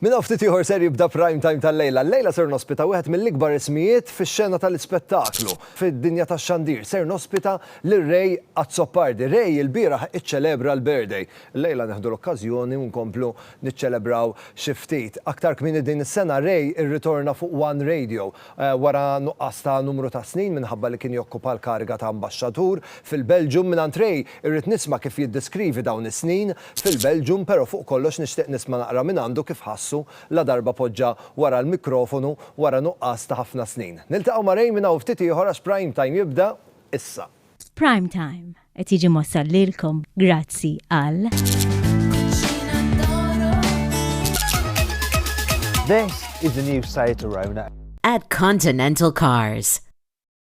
Minn hawn ftit ieħor ser jibda Prime Time tal-lejla. Llejla ser nospita wieħed mill-ikbar ismijiet fix-xena tal-ispettaklu. Fid-dinja tax-xandir ser nospita lil Ray Azzopardi. Ray ilbieraħ iċċelebra l-birthday. Llejla neħdu l-okkażjoni u nkomplu niċċelebraw xi ftit. Aktar kmieni din is-sena Ray irritorna fuq One Radio wara nuqqas ta' numru ta' snin minħabba li kien jokkupa l-kariga ta' Ambaxxatur fil-Belġium. Mingħand Ray irrid nisma' kif jiddeskrivi dawn is-snin. fil-Belgium pero fuq kollox nixtieq nisma naqra minn għandu kif ħassu ladarba poġġa wara l-mikrofonu wara nuqqas ta ħafna snin. Niltaqgħu ma Ray minn hawn ftit ieħor għax Prime Time jibda issa. Prime Time qed jiġi mwassal lilkom grazzi għal. This is the new site around At Continental Cars.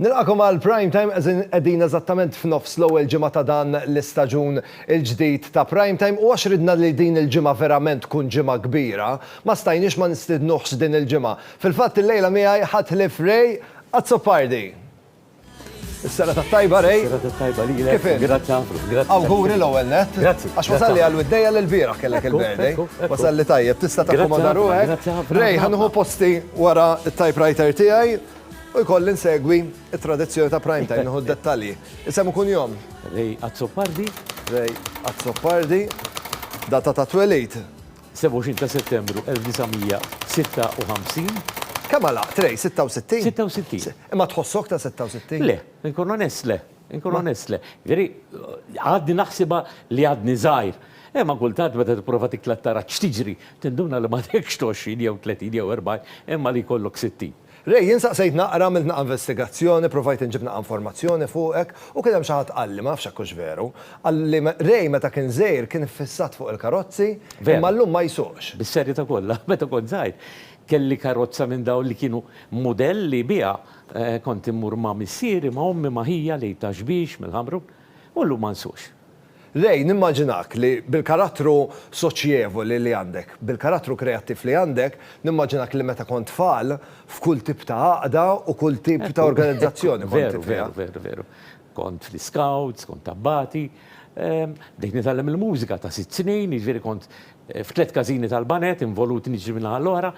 Nilqagħkom għal Prime Time as in qegħdin eżattament f'nofs l-ewwel ġimgħa ta' dan l-istaġun il-ġdid ta' Prime Time u għax ridna li din il-ġimgħa verament tkun ġimgħa kbira, ma stajniex ma nistidnuhx din il-ġimgħa. Fil-fatt illejla miegħi ħadd ħlief Ray Azzopardi. Is-serata t-tajba Ray. Is-serata t-tajba lilek. Kif int? Grazzi ħafna. Grazzi. Awguri l-ewwel nett. Grazzi. Għax wasalli għal widdejja li l-bieraħ kellek il-birthday. Ekku, ekku. Wasalli tajjeb, tista' takkomoda ruħek. Grazzi ħafna. Ray, ħa nieħu posti wara t-typewriter tiegħi. U jkolli nsegwi it-tradizzjoni ta' prime time, nieħu d-dettalji. Isem u kunjom? Ray Azzopardi. Ray Azzopardi. Data ta' twelid? 27 ta' Settembru 1956. Kemm għalaq, Ray? 66? 66. Imma tħossok ta' 66? Le, inkun onest le. Inkun onest le. Veri, għadni naħsibha li għadni żgħir. Imma kultant meta tipprova tikla tara x'tiġri, tinduna li m'għadekx 20 jew 30 jew 40, imma li jkollok 60. Ray, jien saqsejt naqra, għamilt naqa' investigazzjoni, provajt inġib naqa' informazzjoni fuqek, u kien hemm xi ħadd qalli, ma nafx hekk hux veru, qal li Ray meta kien żgħir kien iffissat fuq il-karozzi, imma llum ma jsuqx. Bis-serjetà kollha, meta kont żgħir, kelli karozza minn dawn li kienu mudell li biha kont immur ma' missieri, ma' ommi, ma' ħija, l-Għid ta' Xbiex, mill-Ħamrun, u llum ma nsuqx. Ray, nimmaġinak li bil-karattru soċjevoli li għandek, bil-karattru kreattiv li għandek, nimmaġinak li meta kont tfal, f'kull tip ta' għaqda u kull tip ta' organizzazzjoni kont fiha. Veru, veru, veru. Kont fl-iskawts, kont abbati. Bdejt nitgħallem il-mużika ta' sitt snin, jiġifieri kont f'tliet każini tal-baned, involut niġri min-naħa l-oħra.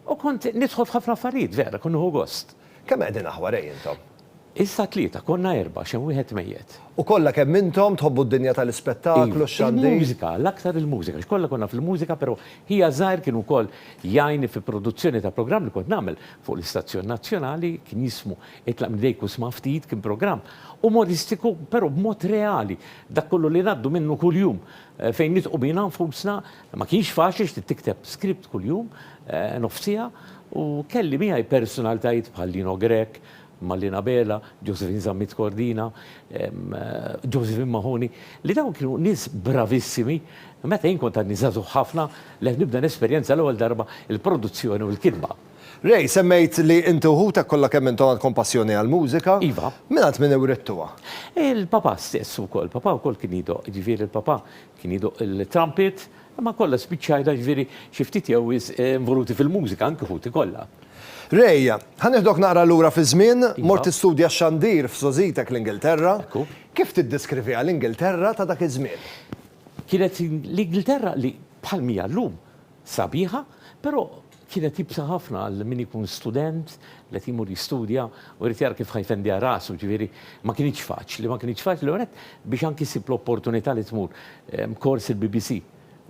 U kont nidħol f'ħafna affarijiet, vera, kont nieħu gost. Kemm qegħdin aħwar ej intom. Issa tlieta, konna erbgħa, x'hemm wieħed mejjet. U kollha kemm intom tħobbu d-dinja tal-ispettaklu, x-xandir. Il-mużika, l-aktar il-mużika, għax kollha konna fil-mużika pero' ħija żgħir kien ukoll jgħinni fi produzzjoni ta' programm li kont nagħmel fuq l-istazzjon nazzjonali, kien jismu Itlaq minn idejk u sma' ftit, kien programm umoristiku pero' b'mod reali, dak kollu li ngħaddu minnu kuljum, fejn nidhqu bina nfusna Ma kienx faċli x'trid tikteb script kuljum nofs siegħa u kelli miegħi personalitajiet bħal Lino Grech, Malin Abela, Josephine Zammit Cordina, Josephine Mahoney li dawn kienu nies bravissimi meta jien kont għadni żagħżugħ ħafna li qed nibda nesperjenza għall-ewwel darba l-produzzjoni u l-kitba. Ray, semmejt li inti u ħutek kollha kemm intom għandkom passjoni għall-mużika. Iva. Mingħand min iwrittuha? Il-papà stess ukoll. Papà wkoll kien jiddoqq, jiġifieri l-papà Kien jidoqq il-trumpet, imma kollha spiċċajna, jiġifieri, xi ftit jew wisq involuti fil-mużika, anki ħuti kollha. Ray, Ħa nieħdok naqra lura fiż-żmien. Mort tistudja x-xandir f'sożitek l-Ingilterra. Kif tiddeskriviha l-Ingilterra ta' dak iż-żmien? Kienet l-Ingilterra li, bħal m'hija llum, Sabiħa, però kienet iebsa ħafna għal min ikun student li qed imur jistudja u jrid jara kif ħa jfendiha rasu, ġifieri ma kinitx faċli. Ma kinitx faċli l-ewwel nett biex anki ssib l-opportunità li tmur kors il-BBC.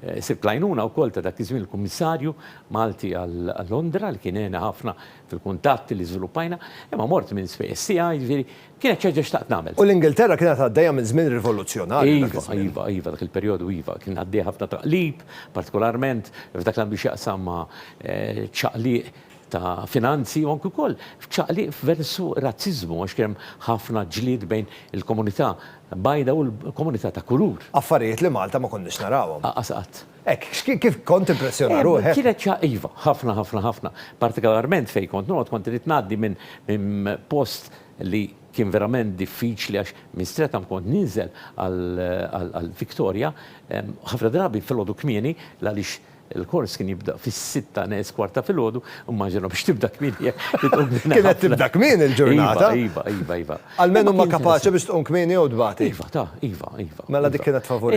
Sibt l-għajnuna wkoll ta' dak iż-żmien il-Kummissarju Malti għal Londra li kien għena ħafna fil-kuntatti li żviluppajna, imma mort minn spejjeż tiegħi, ġifieri Kienet xi ħaġa xtaqt nagħmel. U l-Ingilterra kienet għaddejja minn żmien rivoluzzjonarju dak iż-żmien. Iva, iva, iva, dak il-perjodu iva, kien għaddej ħafna taqlib, partikolarment f'dak li għandu x'jaqsam ma' ċaqliq ta' finanzi u anki wkoll f'ċaqliq versu razziżmu għax kien hemm ħafna ġlied bejn il-komunità bajda u l-komunità ta' kulur. Affarijiet li Malta ma konniex narawhom. Aqqas qatt. Hekk, kif kont timpressjona ruħek? Kienet xi ħaġa, iva, ħafna, ħafna, ħafna. Partikolarment fejn kont noqgħod, kont irid ngħaddi minn post li kien verament diffiċli għax minn Streatham kont ninżel għal Victoria, ħafna drabi filgħodu kmieni, għaliex il-kors kien jibda fis-sitta neqes kwart ta' filgħodu, immaġina biex tibda kmieni hekk li tqum kmieni. Kienet tibda kmieni l-ġurnata. Iva, iva, iva. Almenu ma kapaċi biex tqum kmieni jew tbati. Iva, ta, iva, iva. Mela dik kienet favur.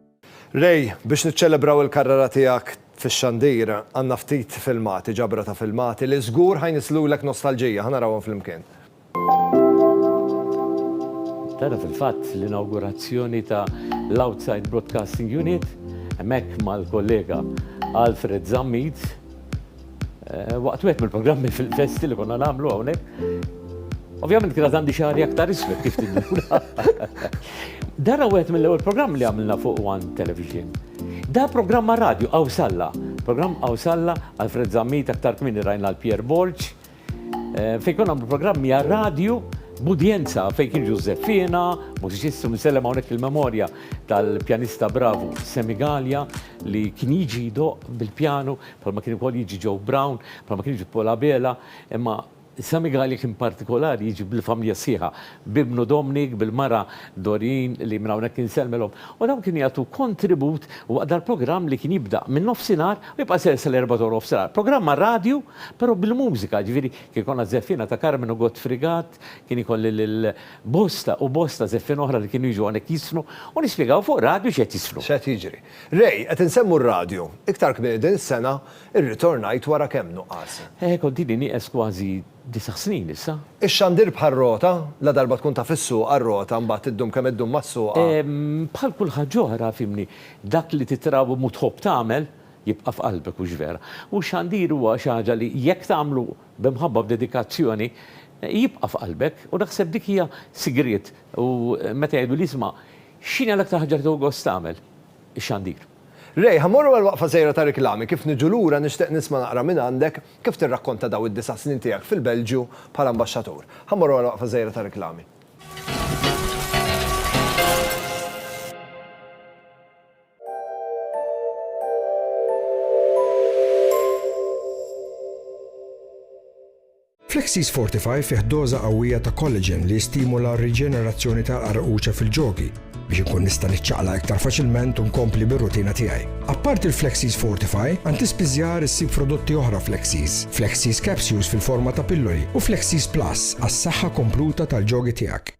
Ray, biex niċċelebraw il-karrera tiegħek fix-xandir, għandna ftit filmati, ġabra ta' filmati, li żgur ħa jnisslulek nostalġija. Ħa narawhom flimkien. Tara fil-fatt l-inawgurazzjoni ta' l-Outside Broadcasting Unit hemmhekk mal-kollega Alfred Zammit. Waqt wieħed mill-programmi fil-festi li konna nagħmlu hawnhekk, Ovvjament kienet għandi xari aktar isfet kif tinnuna. Dara wieħed mill-ewwel programm li għamilna fuq One Television. Da programm ma' radio Awsalla, programm Awsalla Alfred Zammit aktar kmini rajna l-Pierre Borg, Fejn konna għamlu programmi għal radju b'udjenza fejn kien Ġużeffina, mużiċistu misellem hawnhekk il-memorja tal-pjanista bravu Semi Gallia li kien jiġi jdoq bil-pjanu bħalma kien ukoll jiġi Joe Brown, bħalma kien jiġi Pola Bela, imma Semi Gallia kien partikolari jiġi bil-familja sħiħa. b'ibnu Dominic, bil-mara Doreen li minn hawnhekk insellmilhom, u dawn kienu jagħtu kontribut waqt dal-programm li kien jibda min-nofsinhar u jibqa' ser sal-erba' ta' nofsinhar. Programm għar-radju, però bil-mużika, jiġifieri kien ikollna żeffiena ta' Carmen u Godfrey Gatt, kien ikolli lil bosta u bosta żeffiena oħra li kienu jiġu hawnhekk jissnu u nispjegaw fuq radju x'qed jissnu. X'qed jiġri. Ray, Qed insemmu r-radju. Iktar kmieni din is-sena, irritornajt wara kemm nuqqas. Kont ili nieqes kważi disa' snin issa. Ix-xandir bħar-rota, ladarba tkun taf issuqha r-rota mbagħad iddum kemm iddum ma ssuqha. Bħal kull ħaġa oħra, fhimni, dak li titragħwem u tħobb tagħmel jibqa' f'qalbek, hux vera? U x-xandir huwa xi ħaġa li jekk tagħmlu b'imħabba u b'dedikazzjoni jibqa' f'qalbek u naħseb dik hija sigriet u meta jgħidu li isma' x'inhi l-aktar ħaġa li tieħu gost tagħmel? ix-xandir. Ray, ħa mmorru għal waqfa żgħira ta' riklami, kif niġu lura nixtieq nisma' naqra mingħandek kif tirrakkonta daw id-disa' snin tiegħek fil-Belġju bħala ambaxxatur. Ħa mmorru għal waqfa żgħira ta' riklami. Flexis Fortify fih doża qawwija ta' collagen li jistimula r-riġenerazzjoni tal-qarquċa fil-ġogi biex inkun nista' niċċaqlaq iktar faċilment u nkompli bir-rutina tiegħi. Apparti l-Flexis Fortify, għand tispiżjar issib prodotti oħra Flexis, Flexis Capsules fil-forma ta' pilloli u Flexis Plus għas-saħħa kompluta tal-ġogi tiegħek.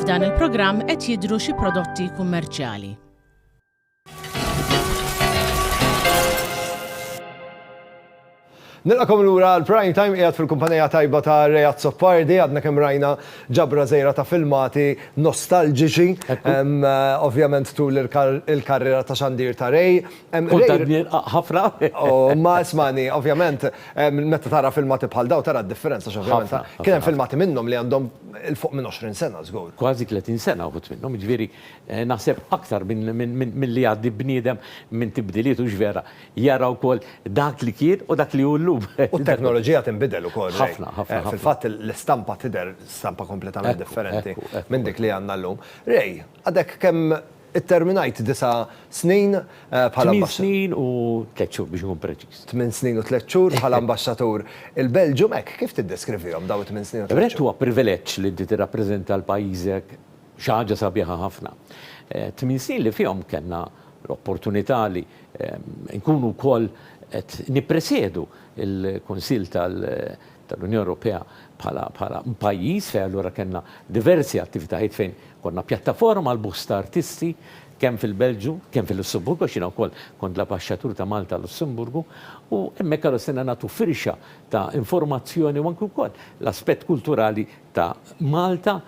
F'dan il-programm qed jidhru xi prodotti kummerċjali. Nilqakom lura l-prime time qiegħed fil-kumpanija tajba ta' Rejat Soppardi, għadna kemm rajna ġabra żejra ta' filmati nostalġiċi. Ovvjament tul il-karriera ta' xandir ta' Rej, Kont qed nirqaq ħafna. Ma ismani, ovvjament, meta tara filmati bħal dawn tara d-differenza għax ovvjament kien hemm filmati minnhom li għandhom 'il fuq minn 20 sena żgur. Kważi 30 sena wħud minnhom, jiġifieri naħseb aktar milli jgħaddi bniedem minn tibdiliet hux vera, jara wkoll dak li kien u dak li hu llum. U t-teknoloġija tinbidel ukoll, Ray. Ħafna, ħafna, ħafna. Fil-fatt l-istampa tidher stampa kompletament differenti minn dik li għandna llum. Ray, għadek kemm Itterminajt disa' snin bħala Tmien ambasċatur. snin u tliet xhur biex inkun preċiż. Tmien snin u tliet xhur bħala ambasċatur il-Belġjum. Hekk kif tiddeskrivihom dawn it-tmien snin u tliet Brett, xhur? huwa privileġġ li inti tirrappreżenta 'l pajjiżek, xi ħaġa sabiħa ħafna. Tmien snin li fihom kellna l-opportunità li nkunu wkoll qed nippresjedu l-Kunsill tal, tal-Unjoni Ewropea bħala pajjiż fejn allura kellna diversi attivitajiet fejn konna pjattaforma għall-busts ta' artisti kemm fil-Belġju, kemm fil-Lussemburgu għax jiena wkoll kont l-Abaxxatur ta' Malta għal-Lussemburgu u hemmhekk allura stajna nagħtu firxa ta' informazzjoni u anki wkoll l-aspett kulturali ta' Malta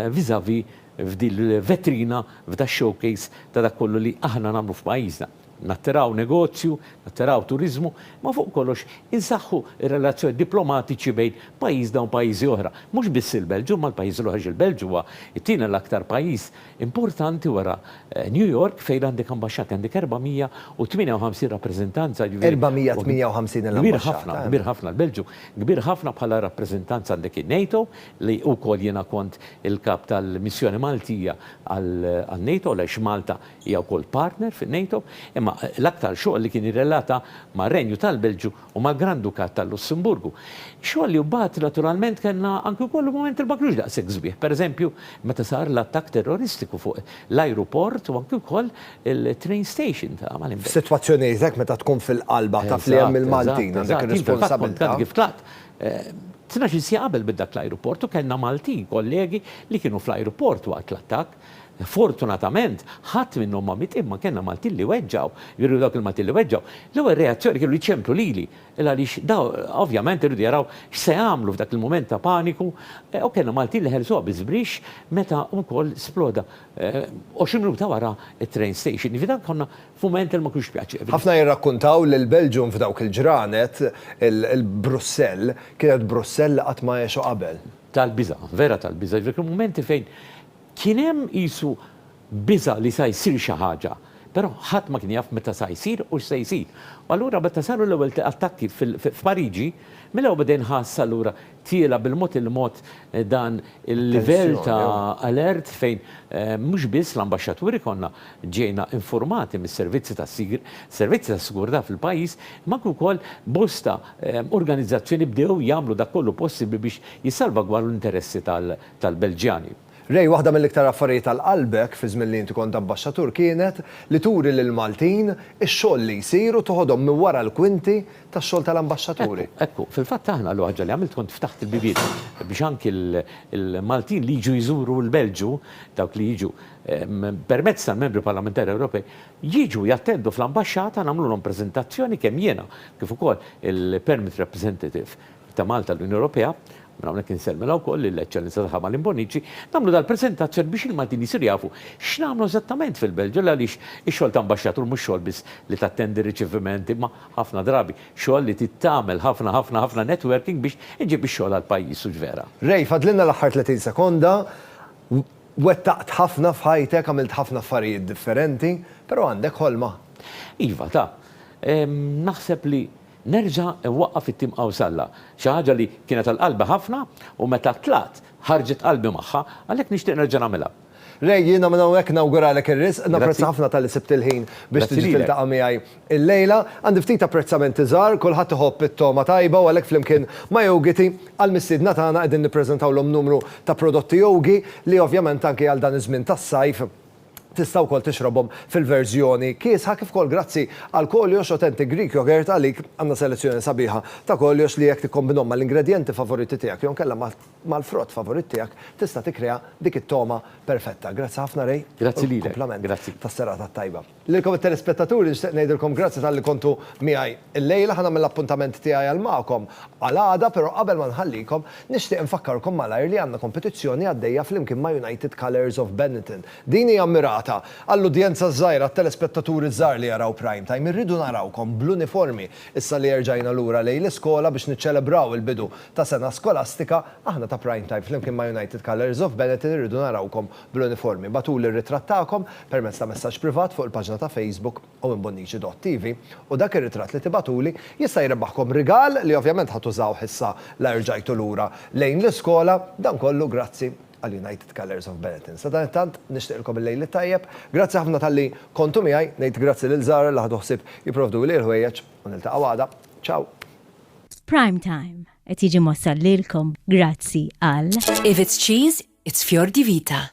vis-à-vis f'dil-vetrina, f'da-showcase ta' dak kollu li aħna nagħmlu f'pajjiżna. nattiraw negozju, nattiraw turiżmu, imma fuq kollox insaħħu r-relazzjonijiet diplomatiċi bejn pajjiżna u pajjiżi oħra. Mhux biss il-Belġju imma l-pajjiżi l-oħra għax il-Belġju huwa t-tieni l-aktar pajjiż importanti wara New York fejn għandek ambaxxati, għandek 458 rappreżentanza, jiġifieri huwa 458 il-ambaxxata, kbir ħafna, hemm. Kbir ħafna l-Belġju, kbir ħafna bħala rappreżentanza għandek in-NATO li wkoll jiena kont il-Kap tal-Missjoni Maltija għal-NATO għaliex Malta Hija wkoll partner fin-NATO, imma l-aktar xogħol li kien jirrelata mar-Renju tal-Belġju u mal-Gran Dukat tal-Lussemburgu. Xogħol li mbagħad naturalment kellna anki wkoll il-mument li ma kinux daqshekk sbieħ, pereżempju meta sar l-attakk terroristiku fuq l-ajruport u anki wkoll il-train station ta' Malinberg. F'sitwazzjonijiet hekk meta tkun fil-qalba taf li hemm il-Maltin għal dik ir-responsabilità. Eżatt, eżatt. Jien fil-fatt kont għadni kif tlaqt tnax-il siegħa qabel bid-dak l-ajruport u kellna Maltin kollegi li kienu fl-ajruport waqt l-attakk. Fortunatament, ħadd minnhom ma miet imma kellna Maltin li weġġgħu. Jiġifieri dawk il-Maltin li weġġgħu, l-ewwel reazzjoni kienu li ċemplu lili, għaliex dawn ovvjament iridu jaraw x'se jagħmlu f'dak il-mument ta' paniku, u kellna Maltin li ħelsuha biż-żbrix meta wkoll sploda 20 minuta wara t-train station. Jiġifieri dan konna f'mument li ma kienx pjaċevoli. Ħafna jirrakkuntaw li l-Belġium f'dawk il-ġranet, il-Brussell, kienet Brussell li qatt ma għexu qabel. tal-biża', vera tal-biża', ġifieri kienu mumenti fejn kien hemm qisu biża' li sa jsir xi ħaġa, però ħadd ma kien jaf meta sa jsir u x'se jsir. U allura meta saru l-ewwel attakki f'Pariġi, mill-ewwel beda jinħass allura tiela' bil-mod il-mod dan il-livell ta' alert fejn mhux biss l-ambaxxaturi konna ġejna infurmati mis-servizzi tas-sigr, servizzi tas-sigurtà fil-pajjiż, imma anke wkoll bosta organizzazzjoni bdew jagħmlu dak kollu possibbli biex jissalvagwardu l-interessi tal-Belġjani. Ray, waħda mill-iktar affarijiet għal qalbek fi żmien li inti kont Abbaxxatur kienet li turi lill-Maltin ix-xogħol li jsir u toħodhom minn wara l-kwinti tax-xogħol tal-Ambaxxaturi. Ekku, ekku. Fil-fatt aħna l-ewwel ħaġa li għamilt kont ftaħt il-biebien biex anki l-Maltin li jiġu jżuru l-Belġju, dawk li jiġu permezz tal-Membri Parlamentari Ewropej, jiġu jattendu fl-Ambaxxata nagħmlulhom preżentazzjoni kemm jiena kif ukoll il-Permit Representative ta' Malta l-Unjoni Ewropea, minn hawnhekk insellmilha wkoll lill-Eċċellenza tagħha Malin Bonnici, nagħmlu dal-preżentazzjoni biex il-Maltin jsiru jafu x'nagħmlu eżattament fil-Belġju għaliex ix-xogħol ta' Ambaxxatur mhux xogħol biss li tattendi riċeviment imma ħafna drabi xogħol li trid tagħmel ħafna ħafna ħafna networking biex iġġib ix-xogħol għall-pajjiż hux vera? Ray, fadlilna l-aħħar 30 sekonda. Wettaqt ħafna f'ħajtek, għamilt ħafna affarijiet differenti, però għandek ħolma? Iva, ta. Naħseb li nerġa' nwaqqaf it-tim Qawsalla. Xi ħaġa li kienet għal qalbi ħafna u meta tlaqt ħarġet qalbi magħha, għalhekk nixtieq nerġa' nagħmilha. Ray, jiena minn hawnhekk nawguralek ir-riżq. Napprezza ħafna talli sibt il-ħin biex tiġi tiltaqa' miegħi Illejla, għandi ftit apprezzamenti żgħar, kulħadd iħobb it-togħma tajba u għalhekk flimkien ma' Yogiti, għall-mistiedna tagħna qegħdin nippreżentawlhom numru ta' prodotti Yogi li ovvjament anki għal dan iż-żmien tas-sajf tista' wkoll tixrobhom fil-verżjoni kiesħa kif ukoll grazzi għal Koliox Authentic Greek Yogurt għalik għandna selezzjoni sabiħa ta' Koliox li jekk tikkombinhom mal-ingredjenti favoriti tiegħek jew inkella mal-frott favorit tiegħek tista' tikkrea dik it-togħma perfetta. Grazzi ħafna Ray u kumplament tas-serata t-tajba. Lilkom it-telespettaturi nixtieq ngħidilkom grazzi talli kontu miegħi llejla. Ħa nagħmel l-appuntament tiegħi għal magħkom għal għada, però qabel ma nħallikom, nixtieq infakkarkom malajr li għandna kompetizzjoni għaddejja flimkien ma' United Colours of Benetton. Din hija mmirata għall-udjenza ż-żgħira, għat-telespettaturi ż-żgħar li jaraw Prime Time. Irridu narawkom bl-uniformi issa li erġajna lura lejn l-iskola biex niċċelebraw il-bidu ta' sena skolastika. Aħna ta' Prime Time flimkien ma' United Colours of Benetton irridu narawkom bl-uniformi. Bagħtuli r-ritratt tagħkom permezz ta' messaġġ privat fuq il-paġna ta' Facebook Owen Bonnici Dott TV u dak ir-ritratt li tibagħtuli jista' jrebbaħkom rigal li ovvjament ħa tużawh issa la rġajtu lura lejn l-iskola. Dan kollu grazzi għal United Colours of Benetton. Sadanittant, nixtieqilkom il-lejl it-tajjeb. Grazzi ħafna talli kontu miegħi. Ngħid grazzi lil Zara li ħadu ħsieb jipprovduli l-ħwejjeġ u niltaqgħu għada. Ciao! Prime Time qed jiġi mwassal lilkom grazzi għal. If it's cheese, It's Fior di Vita.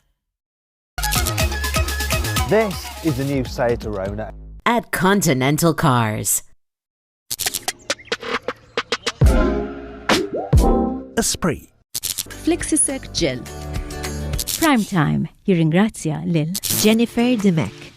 This is the new Seat Arona. At Continental Cars. Esprit. Flexisec Gel. Prime Time jirringrazzja lil Jennifer Dimek.